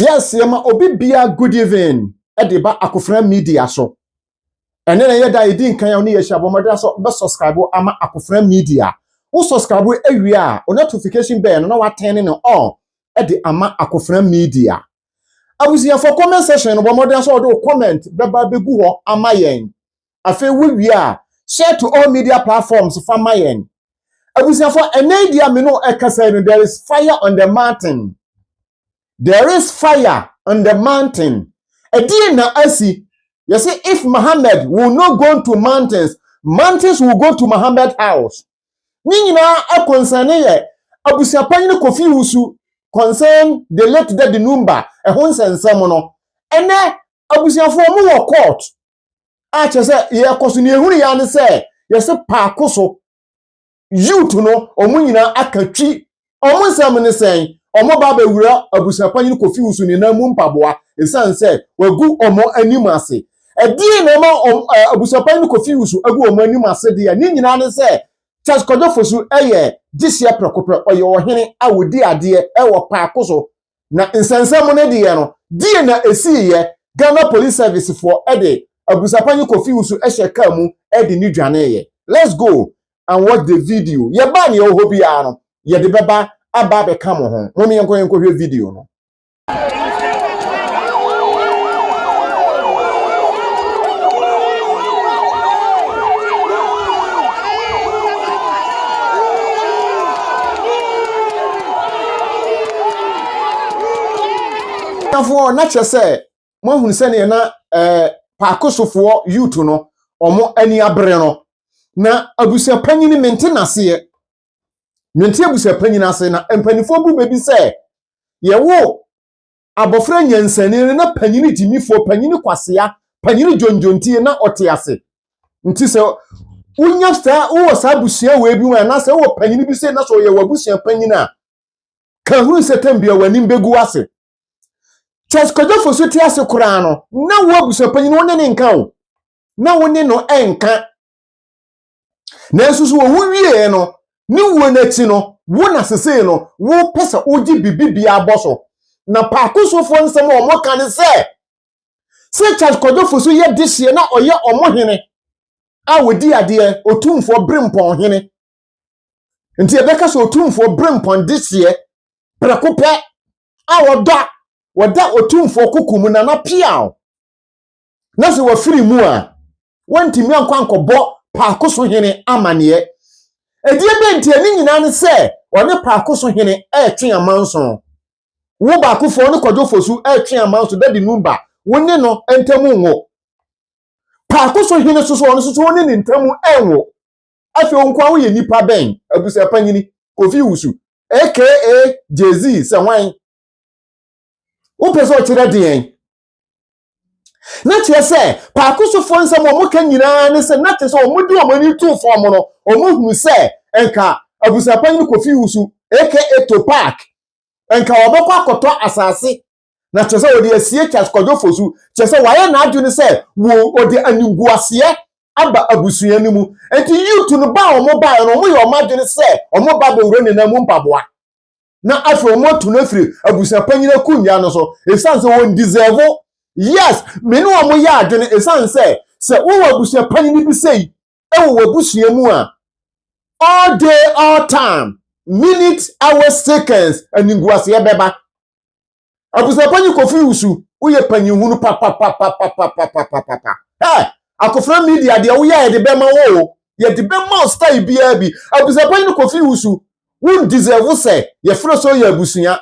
Yɛ aseɛ ma obi bia good even de ba akofena media so ɛnɛ na yɛ da ɛdi nkan a ɔne yɛ hyia bɔ mmɔdera sɛ bɛ subscribe ama akofena media wo subscribe awie a o notification bell no na watɛn ne on ɛde ama akofena media abusuafoɔ comment section no bɔ mmɔdera sɛ ɔde wo comment bɛba bɛgu hɔ ama yɛn afei wo wie a share to all media platforms fa ma yɛn abusuafoɔ ɛnɛ di a me no ɛkasa no there is fire on the mountain there is fire on the mountain ɛdeɛ na asi yɛ sɛ if Muhammad will not go to mountains mountains will go to Muhammad house ne nyinaa ɛkɔnsɛne yɛ abusuapanyini Kofi Wusu concern the late Daddy Numba ɛho nsɛnsɛm no ɛnɛ abusuafoɔ mu wɔ court a kyerɛ sɛ yɛkɔ so ne ɛhunu yɛ ne sɛ yɛse paako so youth no wɔn nyinaa aka twi wɔn nsɛm ne sɛn wɔn ba bɛwura abusuapanyin kofi wusu ne nan mu mpaboa ɛsiane sɛ wagu wɔn anim ase ɛdeɛ na ɛma wɔn abusuapanyin kofi wusu agu wɔn anim ase deɛ ne nyinaa ne sɛ Charles Kwadwo Fosu yɛ gyehyeɛ prɛkopɛ ɔyɛ ɔhene a wɔdi adeɛ wɔ paako so Na nsɛnsɛm no deɛ no, deɛ na ɛsiiɛ, Ghana Police Service foɔ de Abusapanyin Kofi Wusu hyɛ car mu de no dwaneeɛ. Let's go and watch the video. Yɛba a nea ɛwɔ hɔ biara no, yɛde bɛba aba abɛka mo ho. Mom yɛnkɔ yɛnkɔhwɛ video no. Abusuafoɔ na kyerɛ sɛ mo ahunu sɛdeɛ na ɛɛ eh, paakosofoɔ youth no wɔn ani abere no na abusuapanyin mente n'aseɛ mente abusuapanyin ase na mpanimfoɔ bu baabi sɛ yɛwo Abɔfra nyansani no na panyin gyimifoɔ, panyin kwasea, panyin dwondwontie na ɔte ase. Nti sɛ wonya saa, wowɔ saa abusua wei bi mu anaasɛ wowɔ panyin bi sɛ na sɛ ɔyɛ w'abusua panyin a, ka hunu sɛ tam bia w'anim bɛgu ase. Charles Kwadwo Fosu te ase koraa no, na wo abusua panyin wo ne ne nka o. Na wo ne no nka. Nanso so owu wieɛ no, ne wuo no akyi no, wo na sesei no wopɛ sɛ wogye biribi biara bɔ so? Na Paakosofoɔ nsɛm a wɔka ne sɛ, sɛ Charles Kwadwo Fosu yɛ dehyeɛ na ɔyɛ wɔn hene a wɔdi adeɛ, Otumfoɔ Berempɔn hene. Nti yɛbɛka sɛ Otumfoɔ Berempɔn dehyeɛ prɛko pɛ a wɔda wɔda Otumfoɔ koko mu Nana Piaw. na sɛ wɔfiri mu a, wɔntumi ankɔ ankɔbɔ Paako so Hene amanneɛ. Ɛdeɛ bɛn ntia ne nyinaa ne sɛ ɔne Paako so Hene retwe amanso. Wo Baakofoɔ ne Kwadwo Fosu retwe amanso Daddy Numba, wo ne no ntam nwo. Paako so Hene nso so, ɔno nso so wo ne ne ntam nwo. Afei wo nkoa woyɛ nipa bɛn? Abusapanyini, Kofi Wusu, aka Jay-Z sɛ hwan? Wopɛ sɛ ɔkyerɛ deɛn? na kyerɛ sɛ paako sofoɔ nsɛm a wɔka nyinaa ne sɛ na kyerɛ sɛ wɔde wɔn ani too fam no wɔhunu sɛ nka abusuapanyin kofi wusu aka eto park nka wɔbɛkɔ akɔtɔ asase na kyerɛ sɛ wɔde asie charles kwadwo fosu kyerɛ sɛ wɔayɛ n'adwene sɛ wɔde animguaseɛ aba abusua no mu nti yutu no ba a wɔn baeɛ no wɔyɛ wɔn adwene sɛ wɔn ba bɛwura ne nan mu mpaboa na afei wɔn atu no afiri abusua panyin akonnwa no so esan sɛ wɔn deserve yes me ne wɔn yɛ adwene esan sɛ sɛ wɔwɔ abusua panyin bi sɛ yi ɛwɔ w'abusua mu a all day all time minute hours seconds animguaseɛ bɛba. Abusuapanyin Kofi Owusu, woyɛ panyin hunu papapapapapapapapa. Ɛ akofra media deɛ woyɛ yɛde bɛma wo o. Yɛde bɛma wo style biara bi. Abusuapanyin Kofi Owusu, wo deserve sɛ yɛfrɛ sɛ ɔyɛ abusua.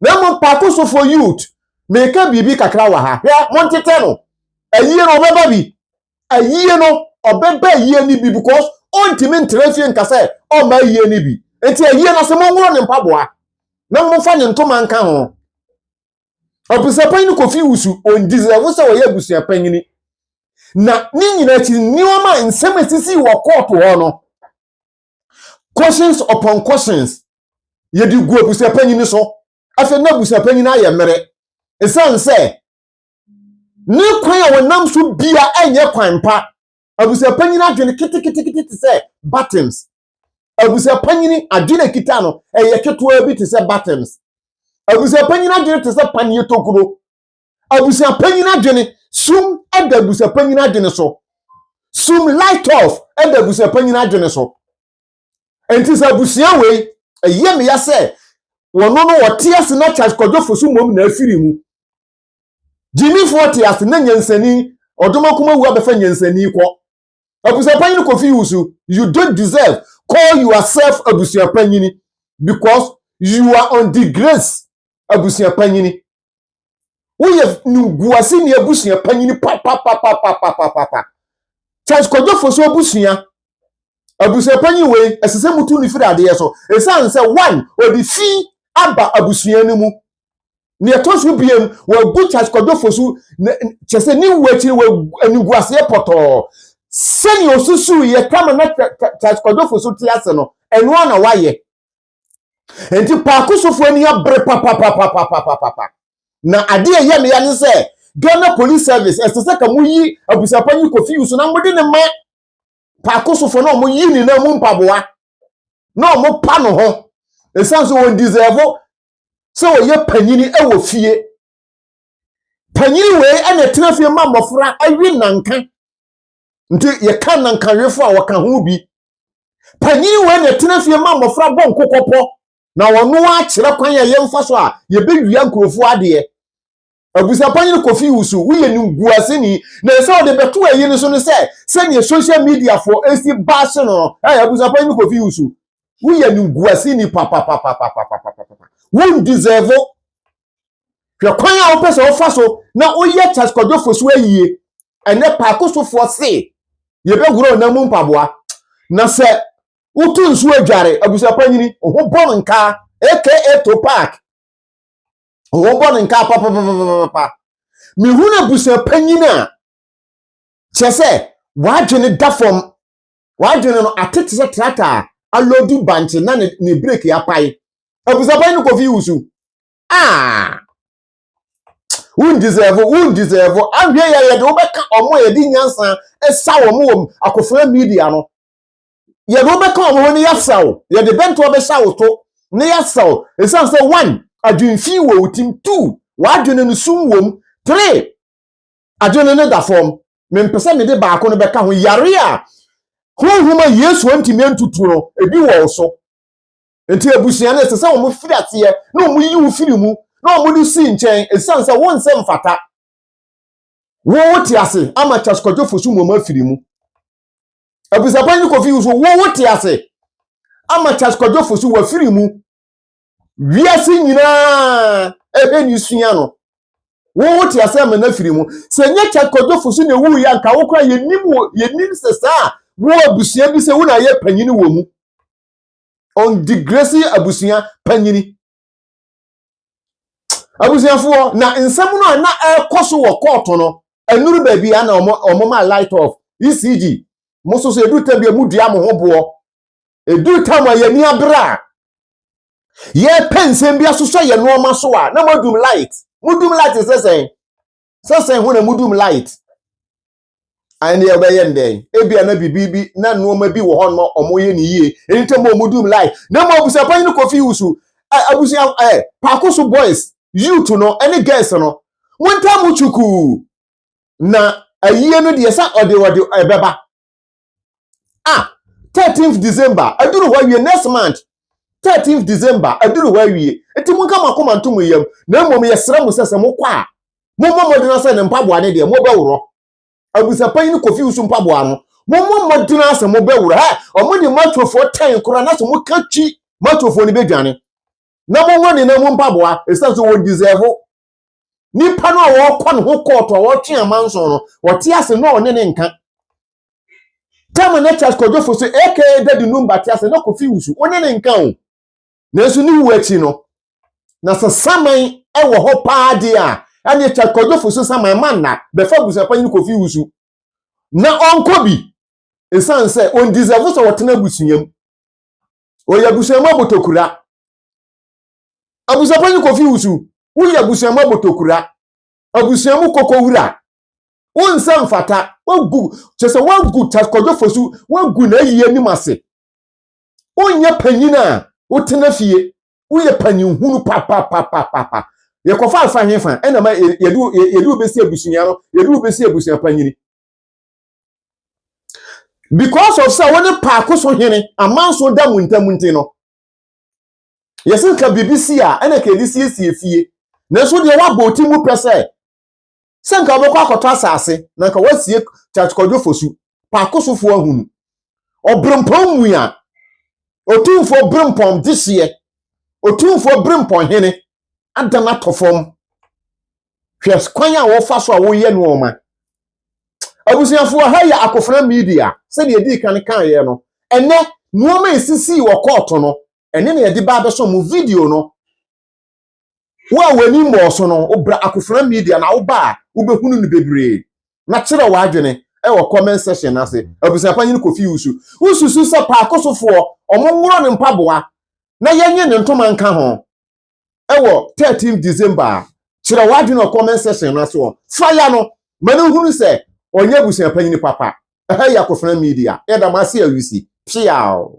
Na mmom paako so for youth. Meka biribi kakra wɔ ha. Hwɛ, montetɛ no. Ayie no, ɔbɛba bi. ayie no ɔbɛba ayie no bi because ɔntumi ntra fie nka sɛ ɔmma ayie no bi nti ayie no sɛ monworɔ ne mpaboa na momfa ne ntoma nka ho ɔbusuapanyin no kofi wusu ɔndiserɛfo sɛ ɔyɛ abusuapanyini na ne nyinaa akyi nneɛma nsɛm asisi wɔ kɔɔto hɔ no questions upon questions yɛde gu abusuapanyini so afei na abusuapanyini ayɛ mmere ɛsiane sɛ ne kwan a wɔnam so bia ɛnyɛ kwan pa abusuapanyin adwene ketekete te sɛ buttons abusuapanyin adwene a kita no ɛyɛ ketewa bi te sɛ buttons abusuapanyin adwene te sɛ paneɛ tokuro abusuapanyin adwene sum ɛda abusuapanyin adwene so sum light off ɛda abusuapanyin adwene so nti sɛ abusua wei ɛyɛ meya sɛ wɔn no wɔte ase na kyakɔdwofo so mmom na afiri mu Gyimifoɔ te ase na nyansani ɔdom akoma wu abɛfa nyansani kɔ abusuapanyin kofi wusu you don't deserve call yourself abusuapanyini because you are on the grace abusuapanyini woyɛ nunguase ni abusuapanyini papapapapapapa Charles Kwadwofo so abusua abusuapanyin wei ɛsɛ sɛ mutu ne firi adeɛ so ɛsiane sɛ one ɔde fi aba abusua no mu nea ɛtɔ so biem wɔagu charles kwadwofo so kyɛ sɛ ne wu akyiri wɔ animguaseɛ pɔtɔɔ sɛnea osusuw yɛ kama na charles kwadwofo so te ase no ɛno a na wayɛ nti paako sofo ani abere papapapapapapa na adeɛ ɛyɛ meya ne sɛ ghana police service ɛsɛ sɛ ka moyi abusapa yi kofi yusu na mode ne ma paako sofo na ɔmo yi ne nan mu mpaboa na ɔmo pa no ho ɛsiane sɛ wɔn deserve sɛ ɔyɛ panyini wɔ fie. Panyini wei na ɛtena fie ma mmɔfra awe nanka. Nti yɛka nankawefo a wɔka ho bi. Panyini wei na ɛtena fie ma mmɔfra bɔ nkokɔpɔ na wɔn akyerɛ kwan a yɛmfa so a yɛbɛwia nkurɔfoɔ adeɛ. abusuapanyin kofi wusu woyɛ nimguaseni na ɛsɛ ɔde bɛto ayi no so no sɛ sɛdeɛ social media fo esi baase no ɛyɛ abusuapanyin kofi wusu woyɛ nimguaseni papapapapapapapa won deserve hwɛ kwan a wopɛ sɛ wofa so na woyɛ Charles Kwadwo Fosu ayie ɛnɛ paako sofoɔ se yɛbɛworɔ ɔnam mu mpaboa na sɛ woto nsuo adware abusuapanyini ho bɔm nkaa aka to park wɔbɔ no nka papapapapa mehu no abusuapanyin a kyerɛ sɛ wadwene da fam wadwene no atete sɛ trata a alɔdu bankye na ne ne breki apae abusuapanyin no kofi wusu aa won deserve won deserve ahwɛ yɛ yɛde wobɛka ɔmo a yɛde nyansa ɛsa wɔn wɔ akofra media no yɛde wo bɛka wɔn ho na yɛasa wo yɛde bɛntoa bɛhyɛ wo to na yɛasa wo ɛsiane sɛ one adwemfi wɔ wo tim two w'adwene no sum wom three adwene no da fam mempɛ sɛ mede baako no bɛka ho yare a honhom a yesu antumi antutu no ebi wɔ wo so nti abusua no ɛsɛ sɛ wɔn firi aseɛ na wɔn yi wo firi mu na wɔn de si nkyɛn ɛsiane sɛ wo nsɛ mfata wo wote ase ama kyaskodwofo so mu wɔn afiri mu Abusuapɔn ne Kofi Wusu wo wo te ase ama Charles Kwadwo Fosu wafiri mu wiase nyinaa ɛhwɛ ne sua no wo wo te ase ama na firi mu sɛ nyɛ Charles Kwadwo Fosu na ewu yɛ anka wo kora yɛnim yɛnim sɛ saa wo abusua bi sɛ wo na ayɛ panyini wɔ mu on digresi abusua panyini abusuafoɔ na nsɛm no a na ɛrekɔ so wɔ kɔɔto no ɛnuru baabi a na wɔn ma light off ecg mo nso so ɛduru tam bi a mo dua mo ho boɔ ɛduru tam a yɛn ani abere a yɛpɛ nsɛm bi asosɔ yɛn nneɛma so a na mo adum light mo dum light sɛsɛn sɛsɛn ho na mo dum light ɛnneɛ ɔbɛyɛ no dɛn ebia na biribi bi na nneɛma bi wɔ hɔ no wɔyɛ no yie ɛne ntam wɔ mu dum life na mmom abusuapɔ yi no kɔfi wusu abusua ɛ paako so boys youth no ɛne girls no mo ntam twukuu na ayie no deɛ sɛ ɔde ɔde ɛbɛba ah thirteenth december aduru hɔ awie next month thirteenth december aduru hɔ awie eti mo nka mo akoma nto mo yam na mmom yɛsrɛ mo sɛ sɛ mo kɔ a mo mmɔ mmɔden asɛ ne mpaboa ne deɛ mo bɛworɔ abusapanyin no kofi wusu mpaboa no mo mmɔ mmɔden asɛ mo bɛworɔ hɛ wɔn de matuofoɔ tɛn koraa na sɛ mo ka twi matuofoɔ no bɛdwane na mo wɔ ne nan mu mpaboa esan so wɔ deserve nipa no a wɔkɔ ne ho kɔɔto a wɔtwe amanso no wɔte ase na ɔne ne nka tɛm ne kyas kɔdwofo so aka dadi num ba te ase na kofi wusu ɔne ne nka o nanso ne wu akyi no na sɛ saman ɛwɔ hɔ paa de a ɛne kyas kɔdwofo so saman ma nna bɛfa busuapanyin no kofi wusu na ɔnkɔ bi nsan sɛ ɔndizɛfo sɛ ɔtena abusua mu ɔyɛ abusua mu abotokura Abusuapanyin Kofi Wusu, Woyɛ abusua mu abotokura, abusua mu kokowura. Wo nsa mfata. Woagu, kyerɛ sɛ woagu Charles Kwadwo Fosu, woagu n'ayi anim ase. Wonyɛ panyin a wotena fie. Woyɛ panyin hunu papapapapa. Yɛkɔfa afa hefa ɛna ma yɛde wo bɛsi abusua no, yɛde wo bɛsi abusua panyin. Because of sɛ wo ne paako so hene amanso da mo ntam nti no, Yɛse nka biribi si a, ɛna nka yɛde siesie fie. Nanso deɛ woabɔ wo ti mu pɛ sɛ sɛ nka wobɛkɔ akɔtɔ asase na nka woasie Kyakykwadwo Fosu, Paakosofoɔ ahunu. Ɔberempɔn mua, Otumfoɔ Berempɔn dehyeɛ, Otumfoɔ Berempɔn hene adan atɔ fam. hwɛ kwan a wɔfa so a wɔyɛ nneɛma abusuafo ha yɛ akofena media sɛdeɛ ɛdii kan kaeɛ no ɛnɛ nneɛma a ɛsisii wɔ kɔɔto no ɛne na yɛde ba abɛsɔ mo video no wo a w'ani mmɔɔ so no wobra akofena media na woba a wobɛhunu no bebree na kyerɛ w'adwene ɛwɔ comment section ase abusuapa nyini kofi wusu wosusu sɛ paakosofoɔ ɔmo nworo ne mpaboa na yɛnye ne ntoma nka ho wɔ 13 December a, kyerɛ w'adwene wɔ comment section no so. Fa ya no ma no hunu sɛ ɔnyɛ abusua panyin papa. Ɛha yɛ Akofena Media. Yɛda mo ase ahurusi. Piaw!